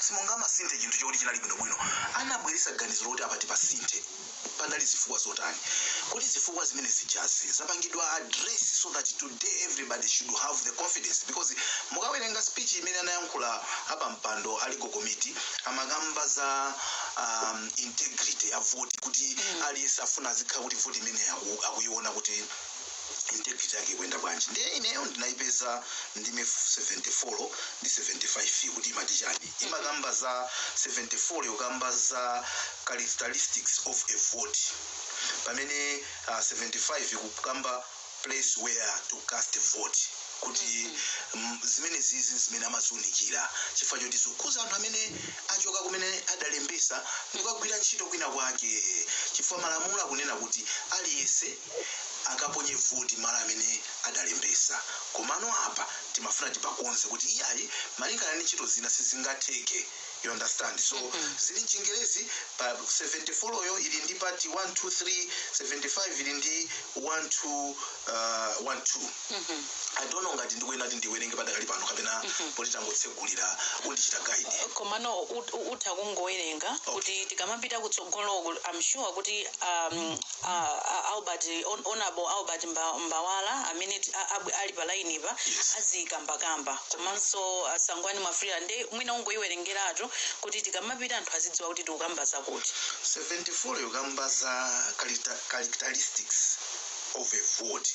Simungamasinthe chinthu choti chinali bwinobwino. Anabweretsa ganizo lokuti apa tipasinthe. Panali zifukwa zotani? Kodi zifukwa zimene zijazo zapangidwa address so that today everybody should have the confidence because mukawerenga speech imene anayankhula apampando a legal committee amakamba za um, integrity ya voti kuti aliyense afuna azikhala kuti voti imene aku- akuiona kuti integrity yake ikuyenda bwanji ndiye ineyo ndinaipeza ndime 74 ndi 75 kuti imati chani imakamba za 74 yokamba za characteristics of a vote pamene uh, 75 ikukamba place where to cast a vote kuti mm, zimene zizi zimene amaziunikira chifukwa choti zikukhudza anthu amene achoka kumene adalembesa n'kukagwira ntchito kwina kwake chifukwa malamulo akunena kuti aliyense akaponye voti malo amene adalembesa komano apa timafuna tipakonze kuti iyayi malingana ndi ntchito zina sizingatheke you understand so zili mchingerezi pa 74 yo ili ndi part 1 2 3 75 ili ndi 1 2 uh, 1 2 i don't know ngati ndikuyenera kuti ndiwerenge padakali pano kapena poti tangotsegulira undichita guide komano ut- ut- utha kungowerenga kuti tikamapita kutsogoloko I'm sure kuti um, a, a Albert hon, honorable Albert Mba- mbawala amene ti- a- ab- ali pa line-pa azikambakamba komanso a Sangwani Mwafulirwa nde mwina ungoyiwerengeratu kuti tikamapita anthu azidziwa kuti tikukamba zakuti 74 yokamba za character- characteristics of a vote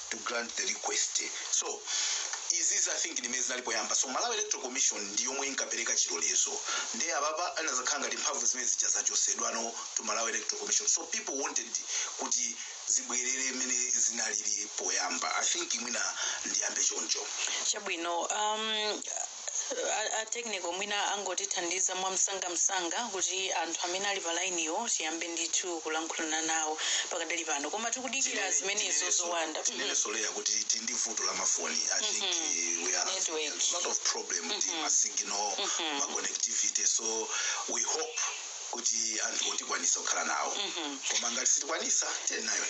to grant the request so izizi i think ndimene zinali poyamba so malawi electoral commission ndi yomwe inkapereka chilolezo ndiye apapa inazakhala ngati mphamvu zimene zija zachosedwano ku malawi electoral commission so people wanted kuti zibwerere mmene zinalili poyamba i think mwina ndiyambe choncho chabwino um, a, a technical mwina angotithandiza mwamsangamsanga kuti anthu amene ali pa lainiwo tiyambe ndithu kulankhulana nawo pakadali pano koma tikudikira zimenezo zowanda tinene sorry kuti tili ndi vuto la mafoni i think eh, we are having a lot of problem ndi ma signal ma connectivity so we hope kuti anthuwo tikwanisa kukhala nawo koma ngati sitikwanisa tiyeni nayo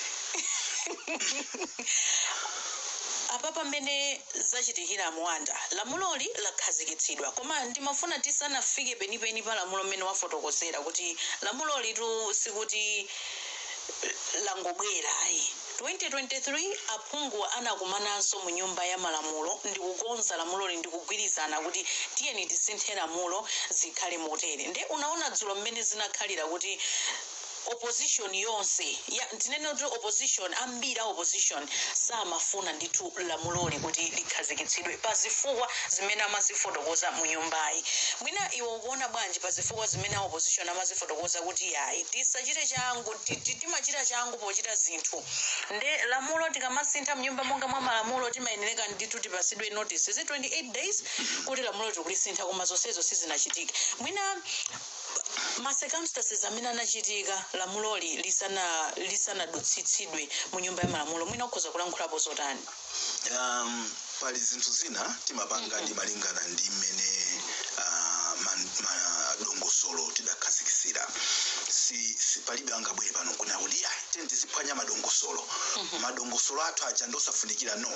apa pamene zachitikira muwanda lamuloli lakhazikitsidwa koma ndimafuna tisanafike penipeni pa lamulo mmene wafotokozera kuti lamulolitu sikuti eh, langobwera ayi 2023 aphungu anakumananso mu nyumba ya malamulo ndikukonza lamuloli ndikugwirizana kuti tiyeni tisinthe lamulo zikhale motere nde unaona dzulo mmene zinakhalira kuti opposition yonse ya tinene kuti opposition ambiri a opposition samafuna ndithu lamuloli kuti likhazikitsidwe pa zifukwa zimene amazifotokoza mu nyumbayi mwina iwe ukuona bwanji pa zifukwa zimene a opposition amazifotokoza kuti yayi tisachite changu ti- ti- timachita changu pochita zinthu nde lamulo tikamasintha m'nyumba monga mwa malamulo timayenereka ndithu tipasidwe notice is it 28 days kuti lamulo tikulisintha koma zonsezo sizinachitike mwina ma circumstances amene anachitika lamuloli lisana lisanadutsitsidwe mu nyumba ya malamulo mwina ukhoza kulankhulapo zotani um, pali zinthu zina timapanga timalingana ndi mmene ah, man- ma- dongosolo tidakhazikitsira si, si palibe angabwere pano kunena kuti "Iyayi, tiyeni tiziphwanya madongosolo madongosolo athu aja ndosafunikira no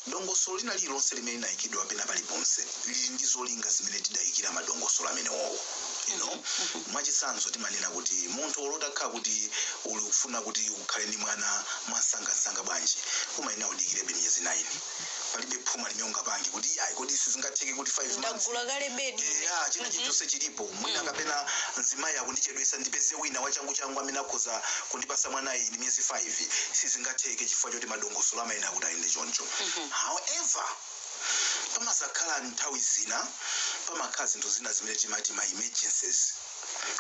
dongosolo lina lililonse limene linayikidwa pena paliponse lili ndi zolinga zimene tidayikira madongosolo amenewowo you know mwachitsanzo timanena kuti munthu olo utakhala kuti ukufuna kuti ukhale ndi mwana mwamsangamsanga bwanji umayenera udikirebe miyezi 9 palibe phuma limene ungapange kuti iyayi kodi sizingatheke kuti 5 months ndagula kale bedi ya china chilichonse chilipo mwina kapena mzimayi akundichedwesa ndipeze wina wachanguchangu amene akhoza kundipasa mwanayi ndi miyezi 5 sizingatheke chifukwa choti madongosolo amayenera kuti ayende choncho however Pamadzakhala nthawi zina, pamakhala zinthu zina zimene timati ma emergencies,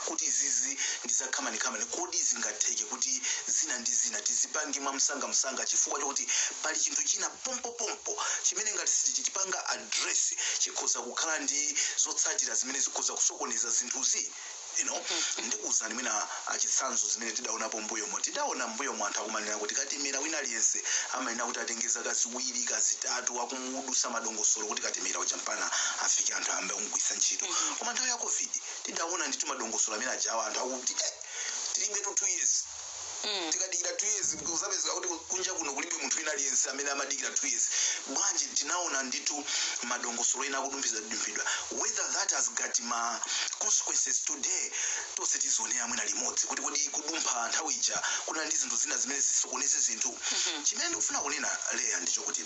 kuti izizi ndi za khamanikamani, kodi zingatheke kuti zina ndi zina tizipange mwa msangamsanga chifukwa chokuti pali chinthu china pompopompo chimene ngati sitichipanga address chikhoza kukhala ndi zotsatira zimene zikhoza kusokoneza zinthuzi? you know ndikuwuzani mwina mwachitsanzo zimene tidaonapo mbuyomo tidaona mbuyomo anthu akumanena kuti katemera wina aliyense amayenera kuti atenge zaka ziwiri kaya zitatu akumudusa madongosolo kuti katemera uja mpaka afike anthu ayambe kumugwiritsa ntchito koma nthawi ya covid tidaona ndithu madongosolo amene ajawa anthu akuti eh, tilibetu two years mm. tikadikira two years kuzapezeka kuti kunja kuno kulibe munthu wina aliyense amene amadikira two years bwanji tinaona ndithu madongosolo ena akudumphidwa whether that has got ma consequences today tonse tizionera mwina limodzi kuti kodi kudumpha nthawi ija kuna ndi zinthu zina zimene zisokoneze zinthu chimene ndikufuna kunena leya ndi chokuti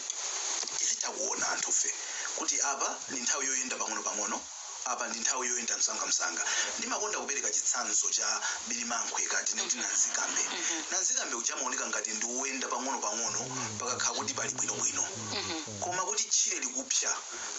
tizitha kuona anthufe kuti apa ndi nthawi yoyenda pang'ono pang'ono Apa ndi nthawi yoyenda msangamsanga. Ndimakonda kupereka chitsanzo cha birimankhwe kaya timati nanzikambe. Nanzikambe uja amaoneka ngati ndi woyenda pang'onopang'ono pakakhala kuti pali bwinobwino. Koma kuti tchire likupsa,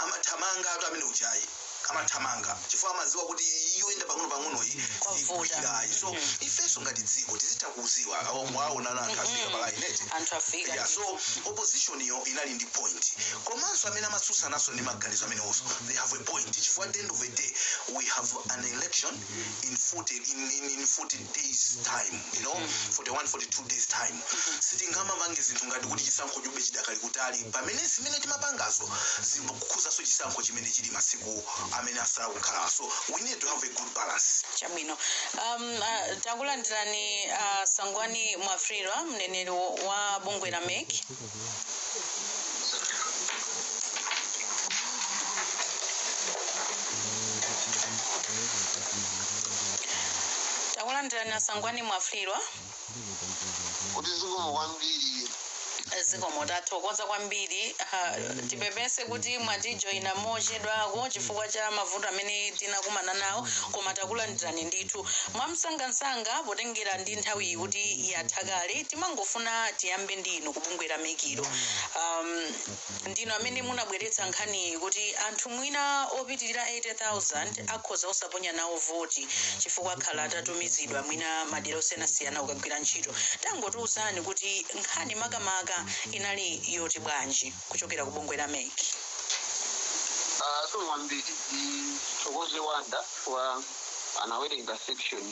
amathamangatu amene ujayi. Amathamanga chifukwa amadziwa kuti yoyenda pang'onopang'onoyi sikugwira ayi. So ifenso ngati dziko tizitha kuziwa awo mwaona anthu afika pa line eti anthu afika yeah, so opposition yo inali ndi point komanso amene amatsutsananso ndi maganizo amenewonso they have a point chifukwa at the end of the day we have an election in 40 in, in, in 40 days time you know 41 42 days time sitingamapange zinthu ngati kuti chisankho chibe chidakali kutali pamene zimene timapangazo zikukhuzanso chisankho chimene chili masiku amene asala kukhala so we need to have a good balance chabwino um, uh, takulandirani uh, asangwani mwafulirwa mneneri wa bungwe la mec takulandirani asangwani mwafulirwa kuti zikomo kwambiri zikomo tathokoza kwambiri Ah, tipepese kuti mwatijoyina mochedwako chifukwa cha mavuto amene tinakumana nawo koma takulandirani ndithu mwamsangamsanga potengera ndi nthawiyi kuti yatha kale timangofuna tiyambe ndi inu ku bungwe la mec lo um, ndinu amene munabweretsa nkhaniyi kuti anthu mwina opitirira 80,000 akhoza osaponya nawo voti chifukwa akhala atatumizidwa mwina madera osiyanasiyana kukagwira ntchito. Tangotiuzani kuti nkhani makamaka inali yoti bwanji kuchokera ku bungwe la mec. Ah, zikomo kwambiri ndithokoze wanda chifukwa anawerenga section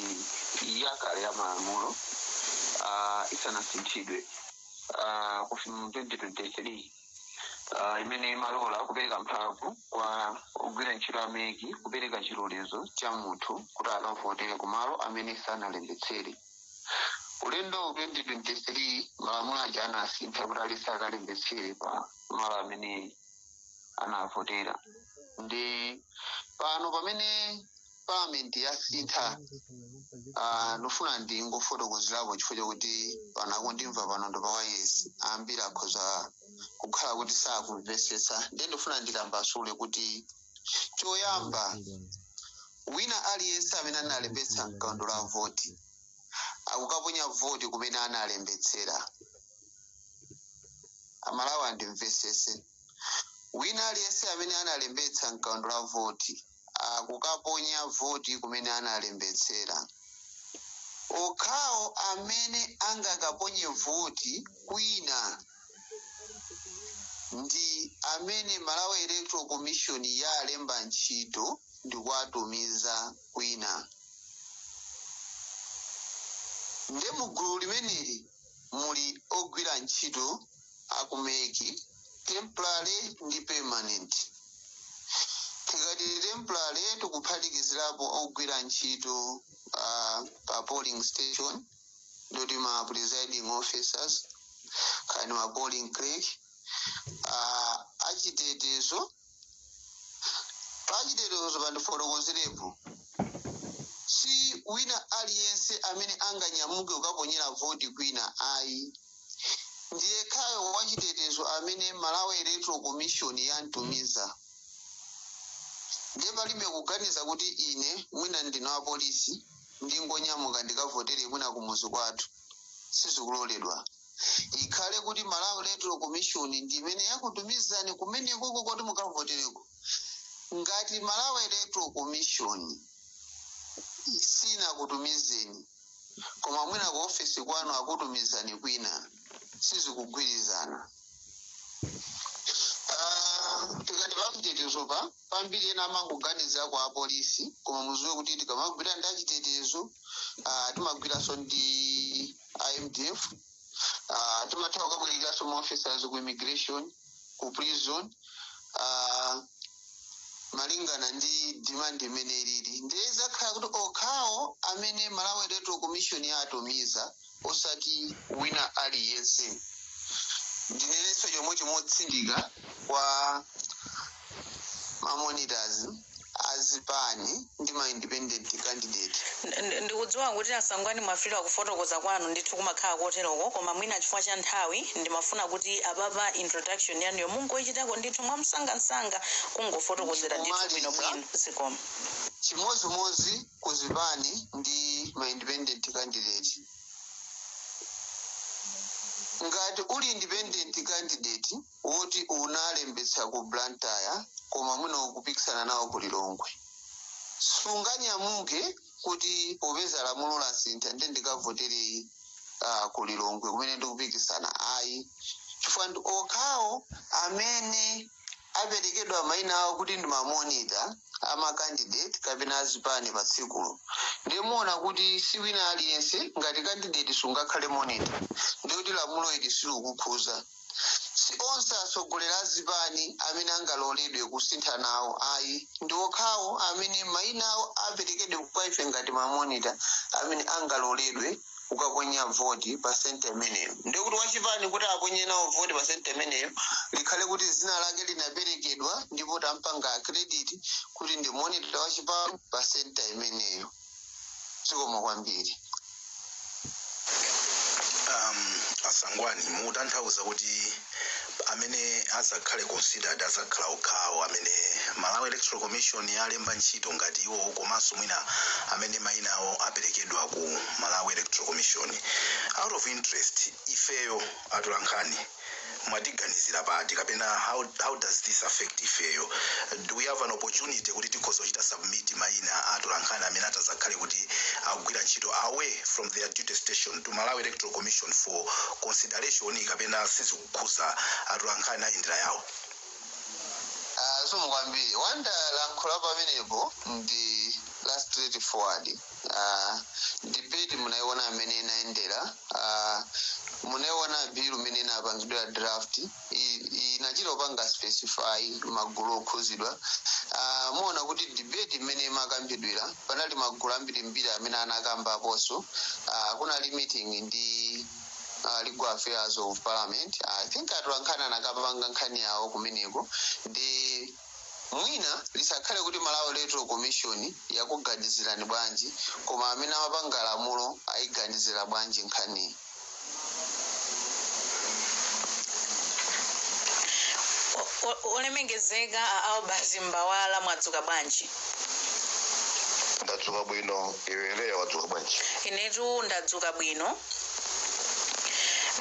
yakale ya malamulo ah, isanasinthidwe ah, kufika mu 2023 ah, imene imalola kupereka mphamvu kwa ogwira ntchito a mec kupereka chilolezo cha munthu kuti akavotere kumalo amene sanalembetsere ulendo wa 2023 malamulo aja anasintha kuti aliyense akalembetsere pa malo amene anavotera ndi pano pamene parliament yasintha ah, ndofuna ndingofotokozerapo chifukwa chakuti pano akundimva panopo pawailesi ambiri akhoza kukhala kuti sakumvesetsa ndiye ndofuna nditambasule kuti choyamba wina aliyense amene analembetsa mkaundula wa voti akukaponya voti kumene analembetsera amalawi andimvesese wina aliyense amene analembetsa mkaundula wa voti akukaponya voti kumene analembetsera okhawo amene angakaponye voti kwina ndi amene malawi electoral commission yalemba ntchito ndi kuwatumiza kwina nde mu gulu limeneli muli ogwira ntchito aku mec temporary ndi permanent tikati temporary tikuphatikizirapo ogwira ntchito uh, pa polling station ndi ma presiding officers kaya ndi ma polling clerk uh, achitetezo pachitetezo pandifotokozerepo si wina aliyense amene anganyamuke kukaponyera voti kwina ayi ndiyekhayo wachitetezo amene malawi electoral commission yamutumiza ndiye palibe kuganiza kuti ine mwina ndine wa polisi ndingonyamuka ndikavotere mwina kumuzi kwathu sizikuloledwa ikhale kuti malawi electoral commission ndi imene yakutumizani kumenekoko kuti mukavotereko ngati malawi electoral commission sinakutumizeni koma mwina ku ofesi kwanu akutumizani kwina sizikugwirizana Ah, tikati pachitetezo pa pambiri ena amangoganiza kwa apolisi koma muziwe kuti tikamagwira ndi achitetezo ah, timagwiranso ndi a mdf ah, timatha kukabwerekeranso ma officers ku immigration ku prison ah, malingana ndi demand mmene ilili ndiye zikhala kuti okhawo amene malawi electoral commission yawatumiza osati wina aliyense ndinenenso chomwecho motsindika kwa mamonitors azipani ndi ma independent candidate N- n- ndikudziwa kuti a sangwani mwafika kufotokoza kwanu ndithu kumakhala koteroko koma mwina chifukwa cha nthawi ndimafuna kuti apapa introduction yanuyo mungoichitako ndithu mwamsangamsanga kungofotokozera ndithu Ndikumaliza. bwinobwino zikomo chimodzimodzi ku zipani ndi ma independent candidate ngati uli independent candidate woti unalembetsa ku blantyre koma mwina ukupikisana nawo ku lilongwe sunganyamuke kuti popeza lamulo lasintha nde ndikavotere uh, ku lilongwe kumene ndikupikisana ayi chifukwa ndi okhawo amene aperekedwa maina awo kuti ndi mamonita a makandideti kapena azipani pa tsikulo ndiye muona kuti si wina aliyense ngati kandideti sungakhale monita ndiye kuti lamulo ili silukukhuza si onse atsogoleri azipani amene angaloledwe kusintha nawo ayi ndi okhawo amene maina awo aperekedwa kwa ife ngati mamonita amene angaloledwe ukaponya voti pa senta imeneyo ndiye kuti wachipani kuti aponye nawo voti pa senta imeneyo likhale kuti dzina lake linaperekedwa ndipo tampanga accredit kuti ndi monitor wa chipani pa senta imeneyo zikomo kwambiri um, a sangwani mukutanthauza kuti amene azakhale considered azakhala okhawo amene malawi electoral commission yalemba ntchito ngati iwowo komanso mwina amene mayina awo aperekedwa ku malawi electoral commission out of interest ifeyo atolankhani mwatiganizira pati kapena how, how does this affect ifeyo do we have an opportunity kuti tikhoza kuchita submit mayina a atolankhani amene atazakhale kuti akugwira ntchito away from their duty station to Malawi Electoral Commission for consideration kapena sizikukhudza atolankhani ayendera yawo Ah, zikomo kwambiri wanda lamulo pamenepo ndi la straight forward ah, debate munaiona mmene inayendera ah, munaiona bill mmene inapangidwira draft i- i- inachita kupanga specify magulu okhudzidwa Ah, muona kuti debate mmene imakambidwira panali magulu ambirimbiri amene anakambapo so Ah, kunali meeting ndi ah, legal affairs of parliament i think atolankhani anakapanga nkhani yawo kumeneko ndi Mwina lisakhale kuti Malawi Electoral Commission yakuganizirani bwanji koma amene amapanga lamulo ayiganizira bwanji nkhaniyi? O- o- olemengezeka a albert mbawala mwadzuka bwanji ndadzuka bwino iwe leya wadzuka bwanji inetu ndadzuka bwino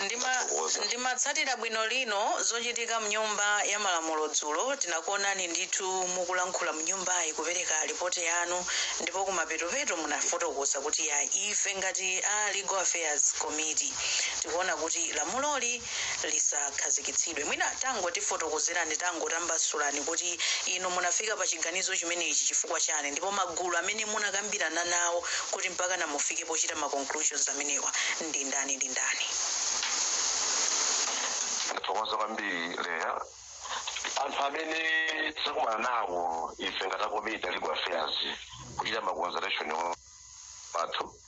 ndima Ndakuthokoza. ndimatsatira bwino lomwe zochitika mnyumba ya malamulo dzulo tinakuonani ndithu mukulankhula mnyumbayi kupereka ripoti yanu ndipo kumapetopeto munafotokoza kuti ya ife ngati a legal affairs committee tikuona kuti lamuloli lisakhazikitsidwe. Mwina tangotifotokozerani, tangotitambasulirani kuti inu munafika pa chiganizo chimenechi chifukwa chani ndipo magulu amene munakambirana nawo kuti mpakana mufike pochita ma conclusions amenewa ndi ndani ndi ndani? Ndathokoza kwambiri Leah. Anthu amene tinakumana nawo ife ngati a komiti ya Legal Affairs kuchita ma consultation athu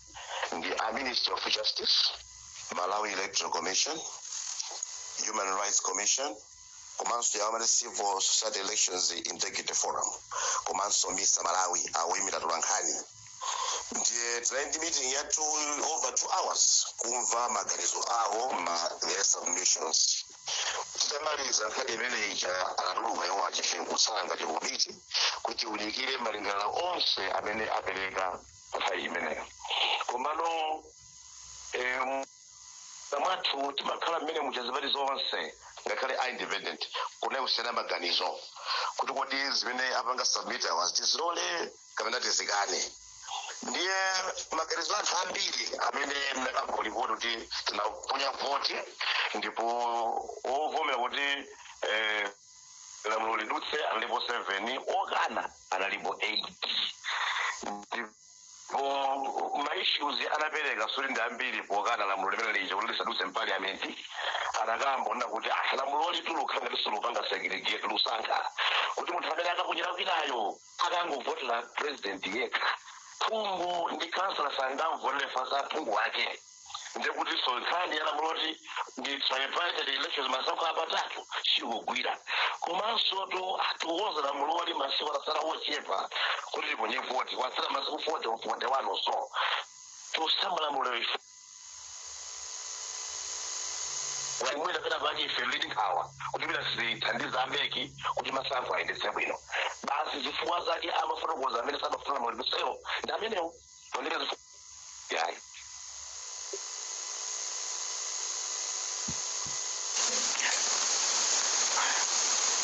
ndi a ministry of justice malawi electoral commission human rights commission komanso ya ma civil society elections integrity forum komanso misa malawi oyimira atolankhani ndiye tinali ndi meeting ya over two hours kumva maganizo awo ma their submissions titamaliza nkhani imene ija anatuluka iwo ife kutsala ngati komiti kuti tiunikire malingaliro onse amene apereka nthawi imeneyo komano em, mwathu timakhala mmene muli zipani zonse ngakhale a independent kunali kusiyana maganizo kuti kodi zimene apanga submit awazi tizilole kapena tizikane ndiye maganizo anthu ambiri amene nakamba lipoti kuti tinaponya voti ndipo ovomera kuti eh, lamulo lidutse analipo 7 okana analipo 8 ndipo maissues anaperekanso ndi ambiri pokana lamulo limene lija kuti lisadutse mpaliamenti anakamba ona kuti ah lamulo lilikukhala ngati likupanga segregate likusankha kuti munthu amene akaponyera kwinayo akangovotera president yekha phungu ndi kansala sangamvotera fansa aphungu ake ndiye kutinso nkhani ya lamulo loti ndi tripartite elections masankho apatatu sikugwira komanso tu atiuza lamuloli masiku atatsala ochepa kuti tiponye voti kwatsala masiku 40 or 41 or so tikusintha lamulo ife walimwena pena pake ife tili nkhawa kuti pena sizithandiza a MEC kuti masankho ayendetse bwino basi zifukwa zake amafotokoza amene samafuna lamulo limenelo ndi zimenezo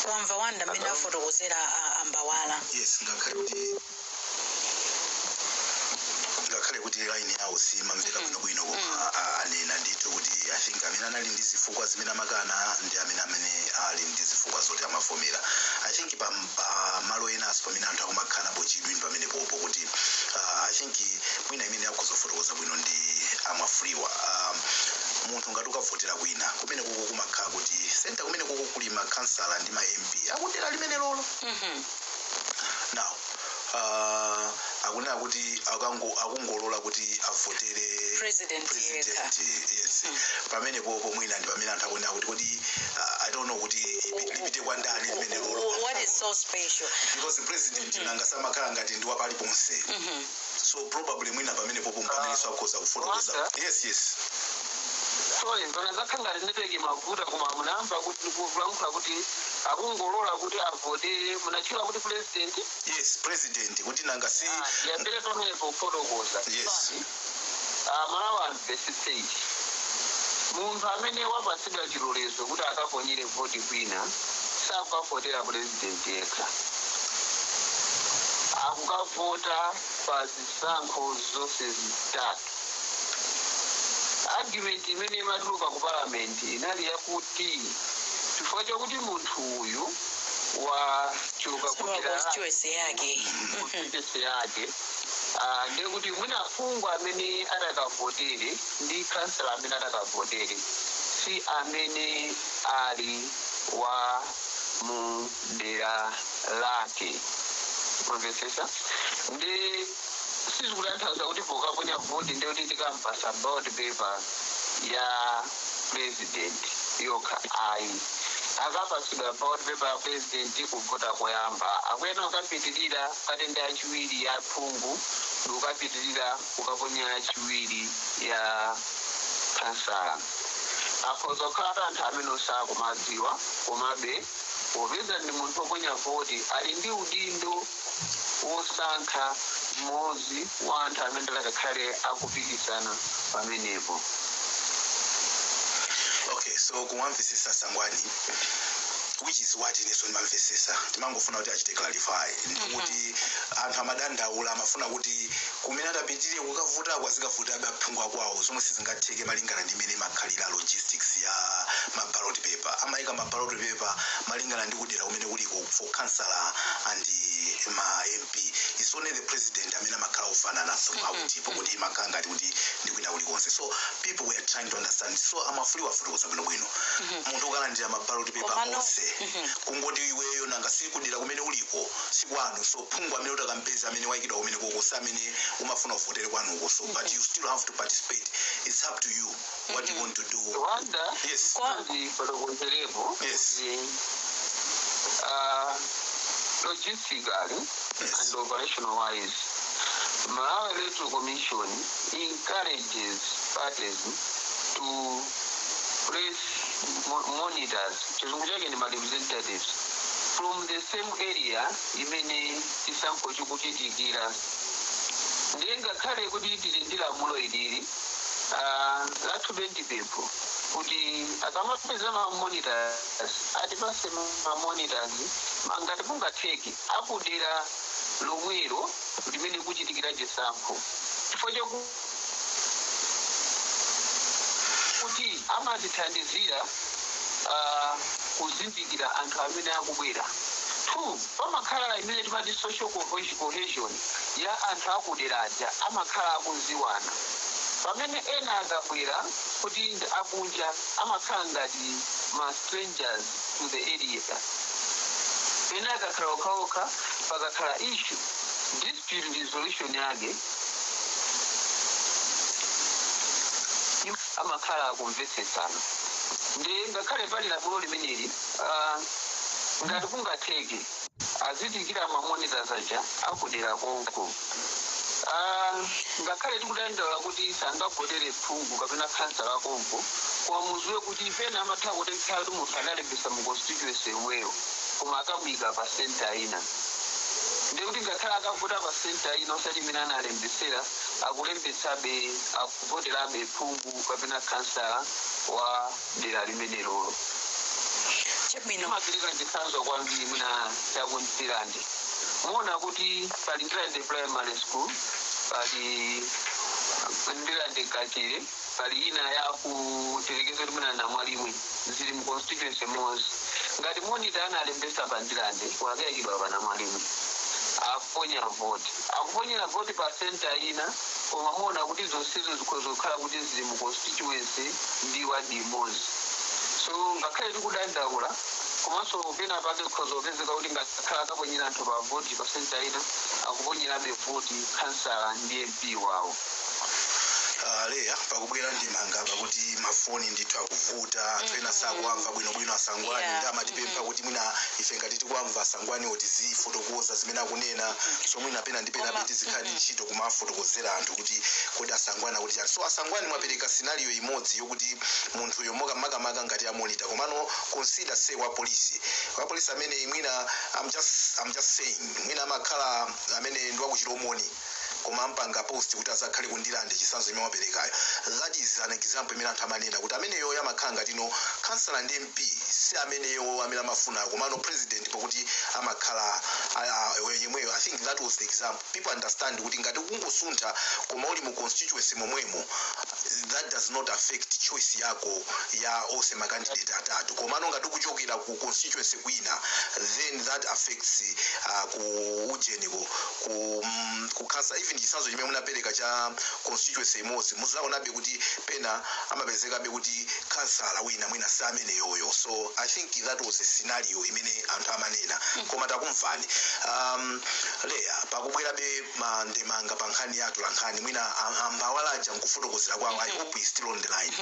mwamva Wanda mmene afotokozera a- a Mbawala yes ngakhale kuti ngakhale kuti line yawo simamveka bwinobwino koma a- anena ndithu kuti i think amene anali ndi zifukwa zimene amakana ndi amene amene ali ndi zifukwa zoti amavomera i think pa pa malo enaso pamene anthu akumakhala pa chidwi ndi pamenepopo kuti uh, i think mwina amene akhoza kufotokoza bwino ndi a Mwafulirwa um, munthu ngati ukavotera kwina kumenekoko kumakhala kuti senta kumenekoko kuli makhansala ndi ma mp akudera limenelolo now uh, akunena kuti akango akungolola kuti avotere President president yes pamenepopo mwina ndi pamene anthu akunena kuti kodi uh, i don't know kuti ipi- lipite kwa ndani limenelolo Wh- What is so special? because president nanga si amakhala ngati ndi wa paliponse so probably mwina pamenepopo mpamene akhoza kufotokoza Wanda? yes yes sorry ndaona zakhala ngati network ikuvuta koma munayamba kuti kulankhula kuti akungolola kuti avotere munatchula kuti president yes president kuti nanga si Ah, ndiyambire pamenepo kufotokoza Yes. Ah, aMalawi amvetsetse ichi munthu amene wapatsidwa chilolezo kuti akaponyere voti kwina sakukavotera purezidenti yekha akukavota pa zisankho zonse zitatu Argument imene imatuluka ku parliament inali yakuti chifukwa chakuti munthu uyu wachoka ku dera lake constituency yake ah, ndiye kuti mwina phungu amene atakavotere ndi kansala amene atakavotere si amene ali wa mu dera lake mwamvetsetsa ndi sizikutanthauza kuti pokaponya vote ndiye kuti tikampasa ballot paper ya president yokha ayi akapasidwa ballot paper ya president kuvota koyamba akuyenera kukapitirira kukatenga yachiwiri ya phungu ndikukapitirira kukaponya yachitatu ya khansala akhoza kukhala anthu amene sakuwadziwa komabe popeza ndi munthu oponya voti ali ndi udindo wosankha mmodzi wa anthu amene akakhale akupikisana pamenepo. Okay so kumamvesesa a Sangwani which is what ineso ndimamvesesa timangofuna kuti achite clarify ndikuti anthu amadandaula amafuna kuti kumene atapitire kukavotako azikavoterabe aphungu akwawo zomwe sizingatheke malingana ndi mmene imakhalira logistics ya mabalot paper amaika mabalot paper malingana ndi kudera kumene uliko for councillor and eh, ma mp it's only the president amene amakhala ofanana throughout pakuti imakhala ngati kuti ndi kwina kulikonse so people were trying to understand so amafuna afotokoze bwinobwino munthu ukalandira mabaloti pepa onse kungoti iweyo nanga sikudera kumene uliko sikwanu so phungu amene utakampeza amene waikidwa kumene uko si amene umafuna uvotere kwanuko so but you still have to participate it's up to you what do you want to do Mwina yes ndifotokozerepo Yes. kuti ah, logistically Yes. and operational wise Malawi Electoral Commission encourages parties to place mo- monitors chizungu chake ndi ma representatives from the same area imene chisankho chikuchitikira ndiye ngakhale kuti tili ndi lamulo ili Ah, lathube ndi pempho kuti akamatumiza ma monitors atipase ma monitors ngati kungatheke akudera lomwelo limene kuchitikira chisankho chifukwa chakuti amatithandizira ah, kuzindikira anthu amene akubwera two pamakhala imene timati social cohesion ya anthu a ku dera aja amakhala akuziwana pamene ena akabwera kuti ndi akunja amakhala ngati ma strangers to the area pena akakhala okhaokha pakakhala issue dispute resolution yake amakhala akumvetsetsana nde ngakhale pali lamulo limeneli aah ngati kungatheke Azitengera ma monitors aja akudera konko. Aaa ngakhale tikudandaula kuti sangavotere phungu kapena khansala wakonko koma muziwe kuti pena amatha kutheka kuti munthu adalembetsa mu constituency yomweyo koma akamuika pa centre ina ndiye kuti ngakhale akavota pa centre ina osati imene analembetsera akulembetsabe akuvoterabe phungu kapena khansala wa dera limenelolo. Chabwino. Ndimapereka chitsanzo kwambiri mwina ya ku Ndirande. Muona kuti pali Ndirande Primary School, pali Ndirande Kachere, pali ina ya kuyerekeza kuti mwina Namalimwe zili mu constituency imodzi. Ngati monita analembesa pa Ndirande, wakaikidwa pa Namalimwe. Aponya voti. Akuponyera voti pa center ina, Koma muona kuti zonsezo zikhoza kukhala kuti zili mu constituency ndi ward imodzi. So ngakhale tikudandaula komanso pena pake kukhoza kupezeka kuti ngakhale akaponyera anthu pa voti pa centre ina akuponyerabe voti khansala ndi MP wawo. Ah, leya pakubwera ndemanga pakuti mafoni ndithu akuvuta anthu ena sakuwamva bwinobwino asangwani Yeah. ndi amatipempha kuti mwina ife ngati tikuwamva asangwani oti tizifotokoza zimene akunena so mwina pena ndi pena bwezi zikhala ntchito kumafotokozera anthu kuti kodi asangwani akuti chani so asangwani mwapereka scenario imodzi yokuti munthuyo maka makamaka ngati amonita komano consider say wa polisi wa polisi amene mwina I'm just, I'm just saying mwina amakhala amene ndi wakuchilomoni koma ampanga post kuti azakhale ku Ndirande chisanzo imene waperekayo that is an example imene anthu amanena kuti ameneyo amakhala ngati no kansala ndi mp si ameneyo amene amafuna komano president pokuti amakhala ah, ah, yemweyo i think that was the example people understand kuti ngati kungosuntha koma uli mu constituency momwemo that does not affect choice yako ya ose makandidate atatu komano ngati ukuchokera ku constituency kwina then that affects uh, ku ujeniko ku, mm, kukhansala even chisanzo chimene munapereka cha constituency imodzi muzaonabe kuti pena amapezekabe kuti khansala wina mwina si ameneyoyo so i think that was a scenario imene anthu amanena koma takumvani um, leya pakubwerabe mandemanga pa nkhani ya atolankhani mwina am- ambawala aja nkufotokozera kwawo i hope he's still on the line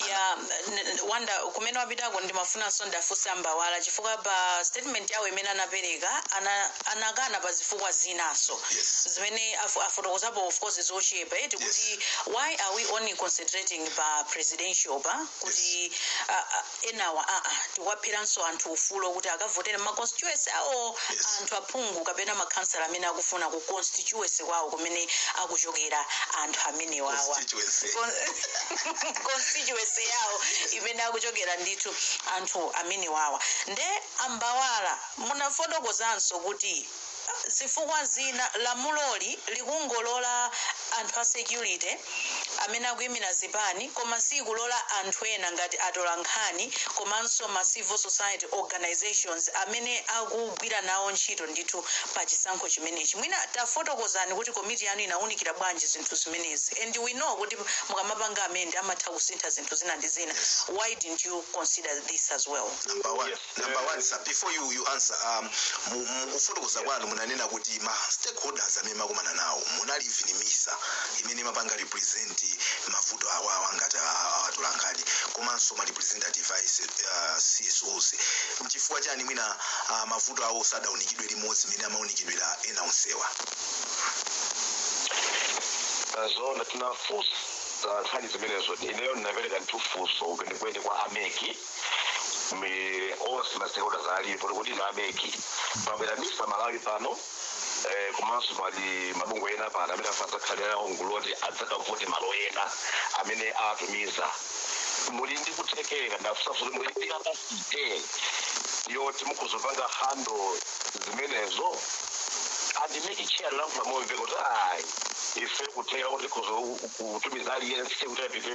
ya n- n- wanda kumene wapitako ndimafunanso ndafunsa ambawala chifukwa pa statement yawo imene anapereka ana- anakana pa zifukwa zinaso yes zimene afu- afotokozapo of course zochepa eti kuti why are we only concentrating pa presidential pa kuti ah, ah, enawa aa tikuwapheranso anthu ufulo kuti akavotere ma constituency awo Yes. anthu aphungu kapena makhansala amene akufuna ku constituency kwawo kumene akuchokera anthu amenewawa constituency Con- constituency yawo imene akuchokera ndithu anthu amenewawa nde a Mbawala munafotokozanso kuti zifukwa zina lamuloli likungolola anthu a security amene akuimira zipani koma siikulola anthu ena ngati atolankhani komanso ma civil society organisations amene akugwira nawo ntchito ndithu pa chisankho chimenechi. Mwina tafotokozani kuti komiti yanu inaunikira bwanji zinthu zimenezi and we know kuti mukamapanga amend amatha kusintha zinthu zina ndi zina, why didn't you consider this as well? Number one, number one sir before you, you answer um, mu- mu- kufotokoza kwanu munanena kuti ma stakeholders amene mumakumana nawo munali even MISA imene imapanga represent mavuto awawa ngati atolankhani komanso ma representative a S- uh, CSOs mchifukwa chani mwina uh, mavuto awo sadaunikidwe limodzi imene amaunikidwira ena onsewa zona tinafunsa nkhani zimenezo ineyo ndinapereka ndithu funso kwenikweni kwa a MEC ndi onse ma stakeholders alipo kuti inu a MEC pabwera MISA Malawi pano eh, komanso pali mabungwe ena pano amene adzakhale nawo mu gulu loti adzakavote malo ena amene atumiza muli ndi kuthekera ndinafunsa funso kuti muli ndi capacity yoti mukhoza kupanga handle zimenezo and MEC chair analankhula momveka kuti ayi ife kuthekera kuti kuzo- kutumiza aliyense kuti apite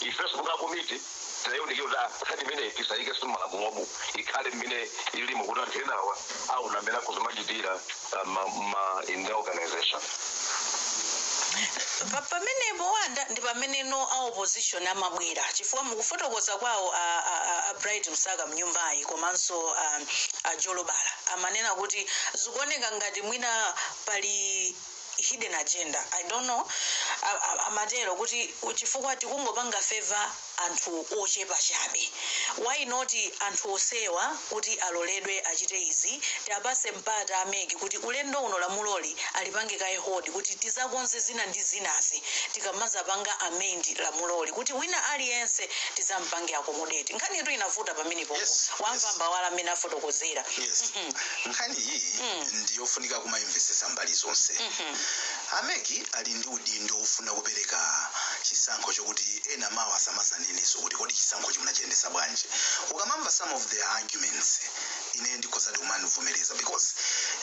Ifenso monga komiti tinaiunikira kuti ah, nkhani imeneyi tisaike m'malamulomu ikhale mmene ilimo kuti anthu enawa aona mmene akhoza kumachitira ah, ma- ma- in their organization Pa- pamenepo wanda ndi pameneno a opposition amabwera chifukwa mukufotokoza kwawo a, a, a, a Bright Msaka mnyumbayi komanso a, a Jolobala amanena kuti zikuoneka ngati mwina pali hidden agenda i don't know A- a- amatero kuti chifukwa tikungopanga favor anthu ochepa chabe why not anthu onsewa kuti aloledwe achite izi tiwapatse mpata a MEC kuti ulendo uno lamuloli alipange kaye hold kuti tizakonze zina ndi zinazi tikamazapanga amend lamuloli kuti wina aliyense tizampange accommodate nkhanitu inavuta pamenepo Yes, yes. wamva a Mbawala mmene afotokozera yes nkhani iyi ndiyofunika kumayimvesesa mbali zonse a mec ali ndi udindo wofuna kupereka chisankho chokuti ena mawa asamazanenenso kuti kodi chisankhochi munachiyendesa bwanji ukamamva some of their arguments ine ndikhozadi kumazivomereza because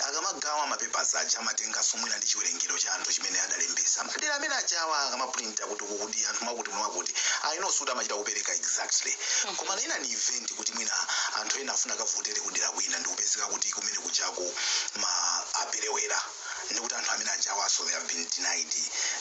akamagawa mapepers aja amatenganso mwina ndi chiwerengero cha anthu chimene adalembesa madera amene ajawo akamaprinta kuti kuti anthu mwakuti mwakuti I know sikuti amachita kupereka exactly koma in an event kuti mwina anthu ena afuna akavotere kudera kwina ndikupezeka kuti kumene kujako aperewera ndikuti anthu amene ajawonso they have been denied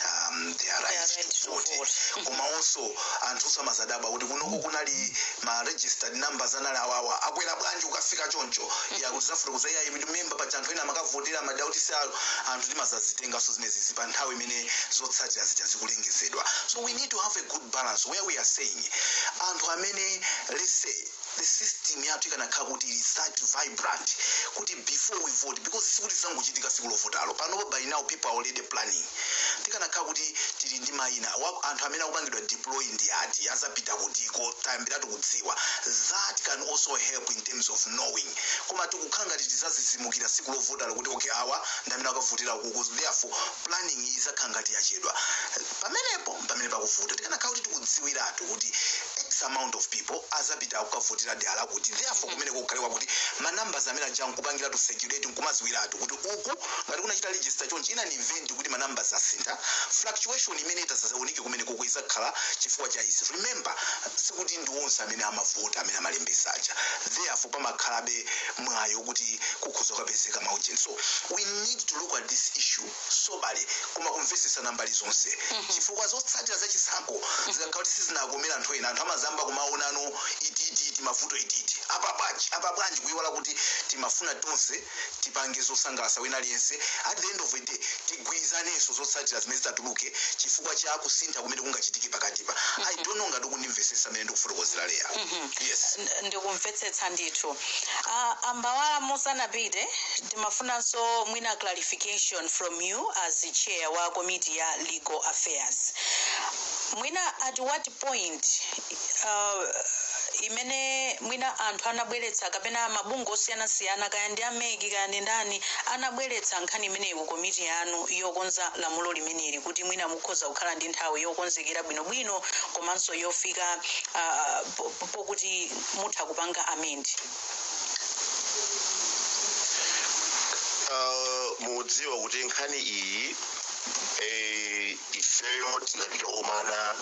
um, their rights right to to vote vote. koma also anthu asamazadabwa kuti kunoko kunali ma registered numbers anali awawa akwera bwanji ukafika choncho yakuti zafufutidwa iyayi remember paja anthu ena amakavotera madera oti si awo anthu timazazitenganso zimenezi pa nthawi imene zotsatira zija zikulengezedwa so we need to have a good balance where we are saying anthu amene let's say the system yathu ikanakhala kuti is that vibrant kuti before we vote because sikuti zangochitika siku lovotalo panopo by now people are already planning tikanakhala kuti tili ndi mayina a anthu amene akupangidwa deploy ndi ati azapita kutiko tayambiratu kudziwa that can also help in terms of knowing koma tikukhala ngati tizazizimukira siku lovotalo kuti okay awa ndi amene akavotera uku therefore planning izakhala ngati yachedwa pamenepo mpamene pakuvuta tikanakhala kuti tikudziwiratu kuti x amount of people azapita kukavotera dera lakuti therefore kumeneko kukhale kwakuti ma numbers amene aja nkupangiratu circulate nkumadziwiratu kuti uku ngati kunachita register chonchi in an event kuti ma numbers asintha fluctuation imene itasazaoneke kumenekuku izakhala chifukwa cha izi remember sikuti ndi onse amene amavota amene amalembesa aja therefore pamakhalabe mwayi woti kukhoza kupezeka maujeni so we need to look at this issue soberly koma kumvesesana mbali zonse chifukwa zotsatira za chisankho zikakhala kuti sizinakomera anthu ena anthu amazayamba kumaonano titititi timavuto titititi apa bwanji apa bwanji kuiwala kuti timafuna tonse tipange zosangalasa wina aliyense at the end of the day tigwirizanenso zotsatira zimene zitatuluke chifukwa cha kusintha kumene kungachitike pakatipa i don't know ngati mukundimvesesa mmene ndikufotokozera leya yes N- ndikumvetsetsa ndithu Ah, a Mbawala musanapite timafunanso mwina clarification from you as chair wa komiti ya legal affairs mwina at what point uh, imene mwina anthu anabweretsa kapena mabungwe osiyanasiyana kaya ndi a mec kaya ndi ndani anabweretsa nkhani imeneyi ku komiti yanu yokonza lamulo limeneli kuti mwina mukhoza kukhala ndi nthawi yokonzekera bwinobwino komanso yofika uh, po- po- pokuti mutha kupanga amend Ah, mudziwa kuti nkhani iyi eh, ifeyo tinapita komana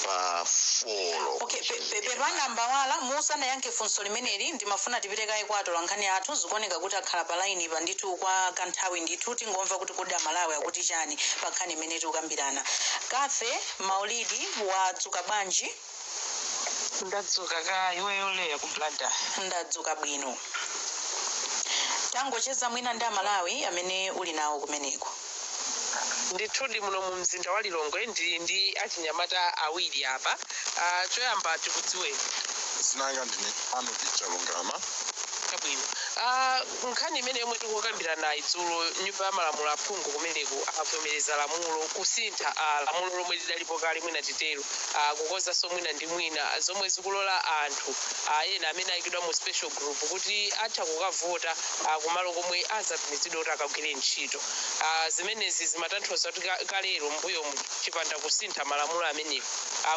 pa folo okay pe- pe- pepani Mbawala musanayankhe funso limeneli ndimafuna tipite kaye kwa atola nkhani athu zikuoneka kuti akhala pa laini pa ndithu kwa kanthawi ndithu tingomva kuti kodi amalawi akuti chani pa nkhani imene tikukambirana kafe maulidi wadzuka bwanji Ndadzuka kaya iweyo Leah ku Blantyre? Ndadzuka bwino. Tangocheza mwina ndi Amalawi amene uli nawo kumeneko. Ndithudi, muno mumzinda wa Lilongwe ndili ndi achinyamata awiri apa. Ah, choyamba tikudziweni. Dzina langa ndine Arnold Chalungama. Chabwino. Ah, nkhani yomwe tikukambiranayi dzulo nyumba ya malamulo aphungu kumeneko avomereza lamulo kusintha ah, lamulo lomwe lidalipo kale mwina titero a kukonzanso mwina ndi mwina, zomwe zikulola anthu a ena amene ayikidwa mu special group kuti atha kukavota a kumalo komwe azatumizidwe kuti akagwire ntchito. A zimenezi zimatanthauza kuti ka- kalero mbuyomu chipanda kusintha malamulo amenewo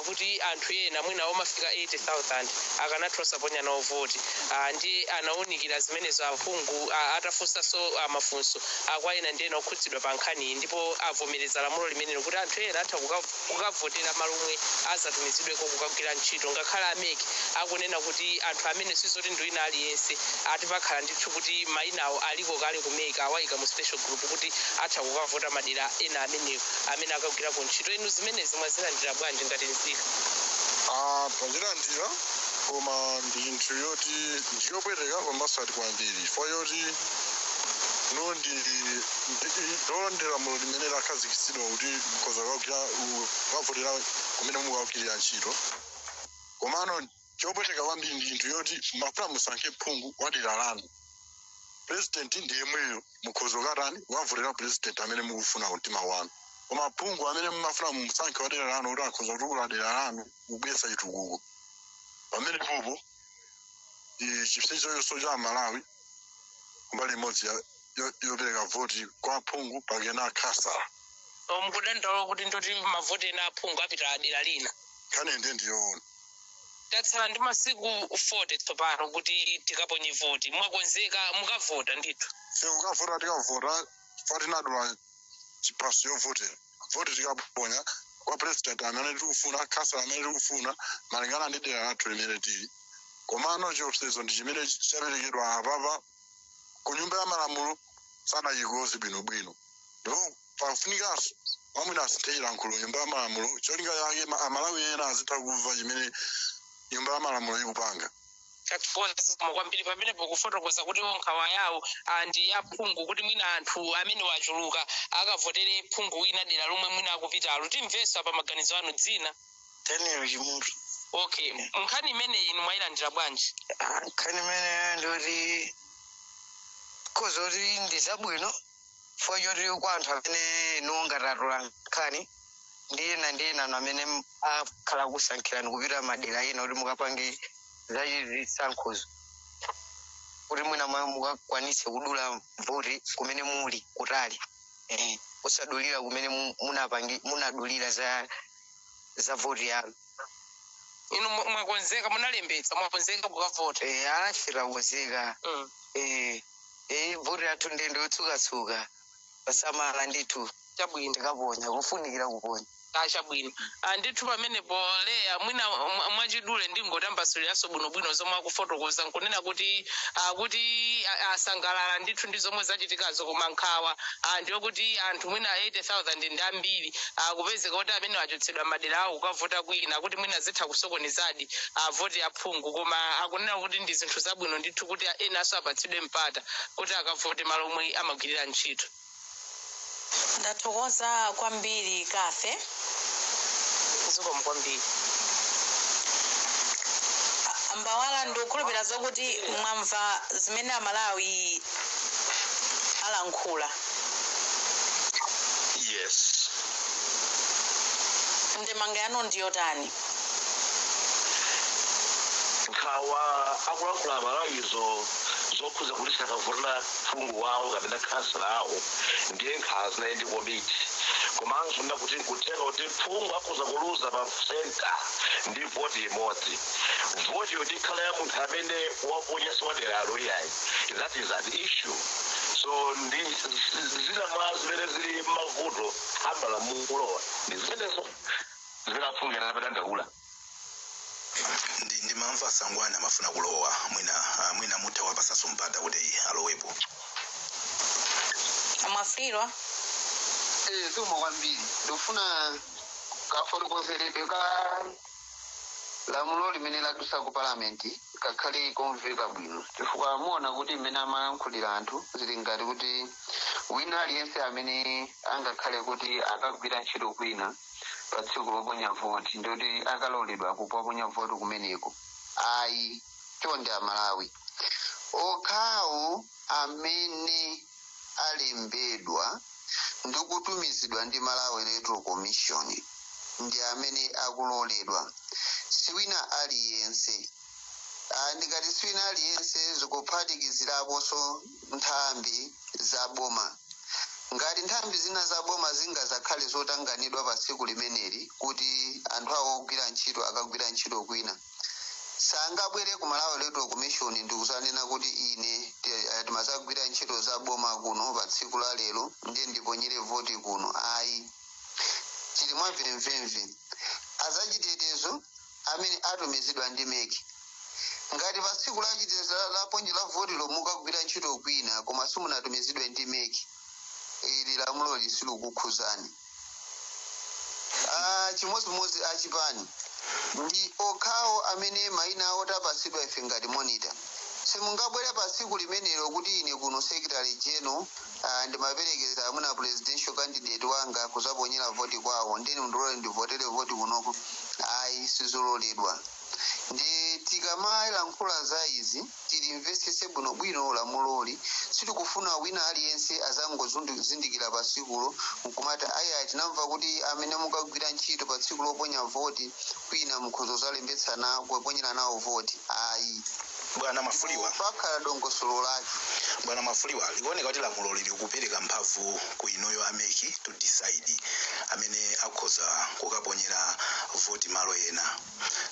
kuti anthu ena mwina omafika 80,000 akanatha osaponya nawo voti. A ndiye anawunikira zimenezo aphungu a- atafunsanso a mafunso a kwa ena ndi ena okhudzidwa pa nkhaniyi ndipo avomereza lamulo limenelo kuti anthu ena atha kukav kukavotera malo omwe azatumizidweko kukagwira ntchito ngakhale a mec akunena kuti anthu amene sizoti ndi wina aliyense ati pakhala ndithu kuti maina awo aliko kale ku mec awaika mu special group kuti atha kukavota madera ena amenewo amene akagwireko ntchito inu zimenezi mwazilandira bwanji ngati nzika? A, tazilandira koma ndi chinthu choti ndi chopweteka pambaso ati kwambiri chifukwa choti ndi Zoonadi lamulo limene lakhazikitsidwa kuti mukhoza kukagwira, kukavotera kumene mukukagwirira ntchito. Komano chopweteka kwambiri ndi chinthu choti mumafuna musankhe phungu wa dera lanu. Pulezidenti ndi yemweyo. Mukhoza kukatani, kukavotera pulezidenti amene mukufuna ku mtima kwanu. Koma phungu amene mumafuna mumusankhe wa dera lanu woti akhoza kutukula dera lanu n'kubweretsa chitukuko, pamenepopo chipsinjoso cha Amalawi kumbali imodzi yo- yo- yopereka voti kwa phungu kapena khansala Oh, mukudandaula kuti ndiye kuti mavoti ena aphungu apita dera lina nkhani nde ndiyoona tatsala ndi masiku 40 tsopano kuti tikaponye voti mwakonzeka mukavota ndithu sekukavota tikavota fa tinadula chiphaso chovotera voti tikaponya kwa president amene tikufuna khansala amene tikufuna malingana ndi dera lathu limene tili komano chiopsezo ndi chimene chaperekedwa apapa ku nyumba ya malamulo sanachikonze bwinobwino ndipo pafunikanso mwamwina asinthe chilankhulo nyumba ya malamulo cholinga chake ma- amalawi ena azitha kumva chimene nyumba ya malamulo ikupanga zikomo kwambiri pamenepo kufotokoza kuti nkhawa yawo ah, ndi ya phungu kuti mwina anthu amene wachuluka akavotere phungu wina dera lomwe mwina akupitalo timvenso apa maganizo anu dzina daniel chimutu okay nkhani imeneyi inu mwayilandira bwanji Ah, nkhani imene nditha kungoti ndi zabwino chifukwa choti kwa anthu amene ngati atola nkhani ndi ena ndi ena amene m- akhala akusankhidwa kupita madera ena kuti mukapange zazisankhozo kuti mwina mwa mukakwanise kudula voti kumene muli kutali eh, osadulira kumene mu- munapangi- munadulira za za voti yanu inu mwa- mwakonzeka munalembetsa mwakonzeka kukavota Eh, ife takonzeka Mm. Eh, eh, voti yathu ndende yotsukatsuka posamala ndithu chabwino tikaponya kufunikira kuponya chabwino ndithu pamenepo leya mwina mwa- mwachidule ndingotambasuliranso bwinobwino zomwe akufotokoza nkunena kuti ah, kuti ah, asangalala ndithu ndi zomwe zachitikazo koma nkhawa ah, ndiyo kuti anthu mwina 80000 ndi ambiri kupezeka kuti amene achotsedwa m'madera awo kukavota kwina kuti mwina zitha kusokonezadi a voti ya phungu koma akunena kuti ndi zinthu zabwino ndithu kuti enanso apatsidwe mpata kuti akavote malo omwe amagwirira ntchito. Ndathokoza kwambiri Cathy. zikomo kwambiri. A Mbawala ndikukhulupirira zokuti mwamva zimene Amalawi alankhula. Yes. ndemanga yanu ndiyotani nkhawa akulankhula amalawizo zokhuza kuti sakavotera phungu wawo kapena khansala wawo ndiye nkhawa zinali ndi komiti komanso nda kuti nkutheka kuti phungu akhoza kuluza pa senta ndi voti imodzi voti yoti ikhala ya munthu amene waponya siwaderalo iyayi that is an issue so ndi zina mwa zimene zili mavuto a malamulo ndi zimenezo zimene aphungu amadandaula ndimamva sangwana amafuna kulowa mwina ah, mwina mutha kuwapatsanso mpata kuti alowepo a mwafulirwa zikomo kwambiri ndikufuna kafotokozerebe ka Lamulo limene ladutsa ku Parliament kakhale komveka bwino chifukwa muona kuti mmene amalankhulira anthu zili ngati kuti wina aliyense amene angakhale kuti akagwira ntchito kwina pa tsiku loponya voti ndi kuti akaloledwa kuponya voti kumeneko ayi chonde aMalawi okhawo amene alembedwa ndikutumizidwa ndi Malawi Electoral Commission ndi amene akuloledwa siwina aliyense Ah, ndikati siwina aliyense zikuphatikiziraponso nthambi za boma ngati nthambi zina za boma zingazakhale zotanganidwa pa tsiku limeneli kuti anthu awo ogwira ntchito akagwira ntchito kwina sangabwere ku malawi electoral commission ndikuzanena kuti ine ti- eh, timazagwira ntchito za boma kuno pa tsiku la lero ndiye ndiponyere voti kuno ayi chili mwamvemvemve azachitetezo amene atumizidwa ndi meki ngati pa tsiku la chitetezo la- loponyera votilo mukagwira ntchito kwina koma simunatumizidwe ndi meki ili lamuloli silikukhuzani Ah, chimodzimodzi achipani ndi okhawo amene maina awo tapatsidwa ife ngati monita simungabwere pa tsiku limenelo kuti ine kuno secretary general ah, ndimaperekeza mwina presidential candidate wanga kuzaponyera voti kwawo ndeni mndilole ndivotere voti kunoko ayi sizololedwa ndi tikamalankhula za izi tilimvetsetse bwinobwino lamuloli. Sitikufuna wina aliyense azangozindikira pa tsikulo n'kumati, Ayaya, tinamva kuti amene mukagwira ntchito pa tsiku loponya voti kwina mukhoza kudzalembetsa nawo kuponyera nawo voti. Ayi. Bwana Mwafulirwa, pakhala dongosolo lake. Bwana Mwafulirwa, likuoneka kuti lamuloli likupereka mphamvu ku inuyo a mec to decide amene akhoza kukaponyera voti malo ena.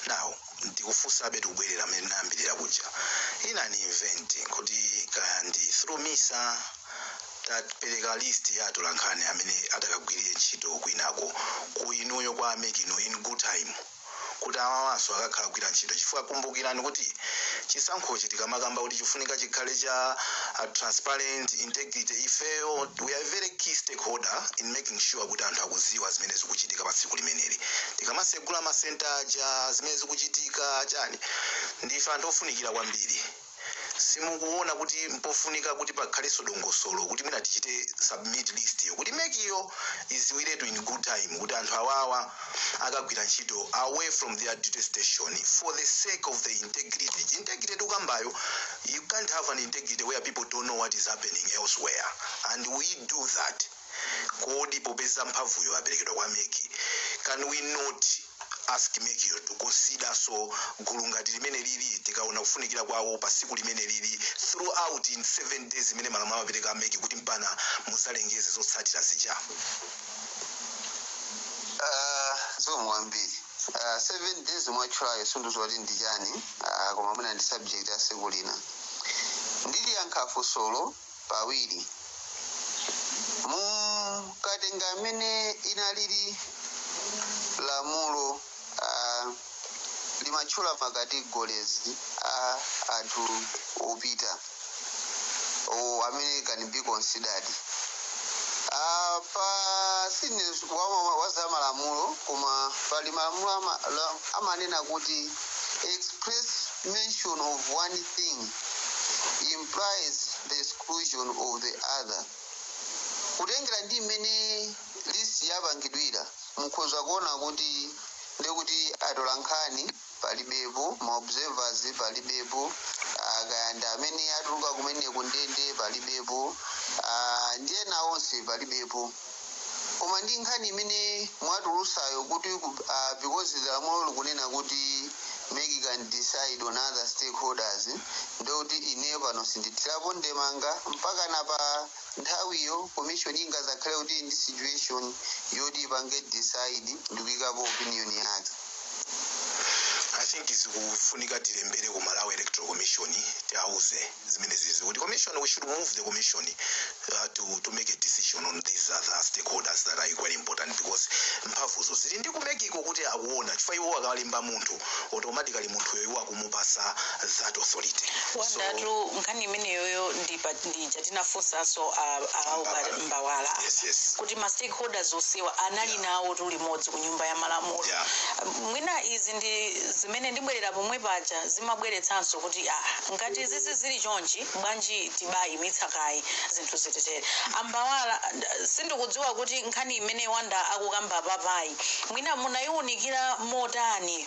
Now, ndikufunsabe tikubwerera mmene tinayambirira kuja in an event kuti kaya ndi through misa tapereka list ya atolankhani amene atakagwirire ntchito kwinako ku inuyo kwa a meki inu in good time kuti awawanso akakhala akugwira ntchito chifukwa kumbukirani kuti chisankhochi tikamakamba kuti chifunika chikhale cha uh, transparent integrity ifeyo we are a very key stakeholder in making sure kuti anthu akuziwa zimene zikuchitika pa tsiku limeneli tikamasegula masenta aja zimene zikuchitika chani ndife anthu ofunikira kwambiri simukuona kuti mpofunika kuti pakhalenso dongosolo kuti mwina tichite submit list yo kuti mek iyo iziwiretu in good time kuti anthu awawa akagwira ntchito away from their duty station for the sake of the integrity tikambayo You can't have an integrity where people don't know what is happening elsewhere and we do that kodi popeza mphamvuyo aperekedwa kwa meki can we not ask meki to consider so gulu ngati limene lili tikaona kufunikira kwawo pa tsiku limene lili throughout in seven days imene malamulo amapereka kwa meki kuti mpaka muzalengeze zotsatira zija Ah, zikomo kwambiri Ah, seven days mwatchulayo sinduziwa kuti ndi chani Ah, koma mwina ndi subject ya tsiku lina ndiliyankha funsolo pawiri mukatenga mmene linalili lamulo ah, limatchula makategorizi a anthu opita oh, amene can be considered apa sine wa- wa za malamulo koma pali malamulo ama- la- amanena kuti express mention of one thing implies the exclusion of the other kutengera ndi mmene list yapangidwira mukhoza kuona kuti ndekuti atolankhani palibepo ma observers palibepo ah, kaya ndi amene atuluka kumene kundende palibepo ah, ndi ena onse palibepo koma ndi nkhani imene mwatulusayo kuti ku- ah, because the lamulo likunena kuti meki can decide on other stakeholders ndikuti ineyo pano sindithirapo ndemanga mpaka napa Nthawiyo commission ingazakhale kuti ili ndi situation yoti ipange decide ndikuikapo opinion yake. I think zikufunika tilembere ku Malawi Electoral Commission tiwauze zimene zizi kuti commission we should move the commission uh, to, to make a decision on these other stakeholders that are equally important because mphamvuzo zili ndi kumekiko kuti akuona chifukwa iwo akawalemba munthu automatically munthuyo iwo aku- kumupasa that authority Awandatu so, nkhani imeneyoyo ndija tinafunsanso ambawala yes, yes. kuti ma stakeholders onsewa anali yeah. nawo tu limodzi ku nyumba ya malamulo yeah. mwina izi ndi zimene ndibwerera pomwe paja zimabweretsanso kuti ah, ngati zizi zili chonchi bwanji tibayimitsa kaye zinthu ziteretere ambawala sindikudziwa kuti nkhani imene a Wanda akukamba papayi mwina munayiwunikira motani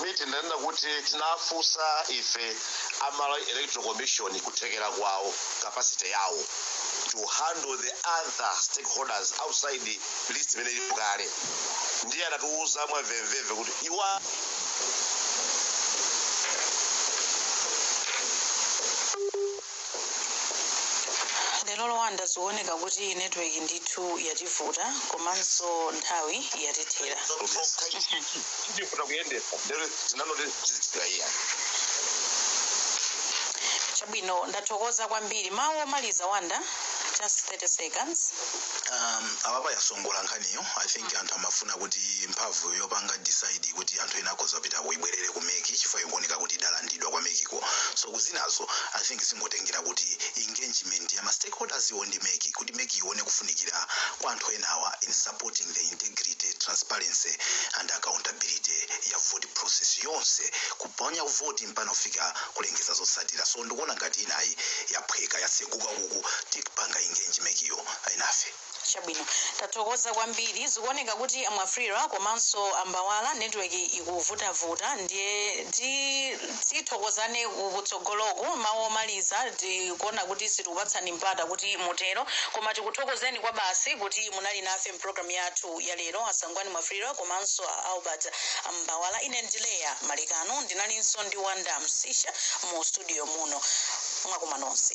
Ine tinanena kuti tinafunsa ife a Malawi Electoral Commission kuthekera kwawo, capacity yawo, to handle the other stakeholders outside list imene ilipo kale. Ndiye anatiuza mwa mvemvemve kuti iwo a. lero Wanda zikuoneka kuti network ndithu yativuta komanso nthawi yatithera chabwino ndathokoza kwambiri mawu omaliza wanda just 30 seconds um, apapa yasongola nkhaniyo i think anthu amafuna kuti mphamvu yopanga decide kuti anthu ena akhoza kupita kuibwerere ku mec chifukwa ikuoneka kuti idalandidwa kwa mec iwo so kuzinazo i think zingotengera kuti engagement ya ma stakeholders wo ndi mec kuti mec ione kufunikira kwa anthu enawa in supporting the integrity transparency and accountability ya vote process yonse kuponya voti mpaka kufika kulengeza zotsatira so ndikuona ngati inayo yaphweka yatseguka kukuti kupanga engagement yo enafe Chabwino tathokoza kwambiri zikuoneka kuti a Mwafulirwa komanso a Mbawala network ikuvutavuta ndiye ti tithokozane kutsogoloko mawu omaliza tikuona kuti sitikupatsani mpata kuti mutero koma tikuthokozeni kwabasi kuti munali nafe mpulogalamu yathu ya lero a Sangwani Mwafulirwa komanso a Albert Mbawala ine ndi Leah Malekano ndinalinso ndi Wanda Msisha mu studio muno mwakoma nonse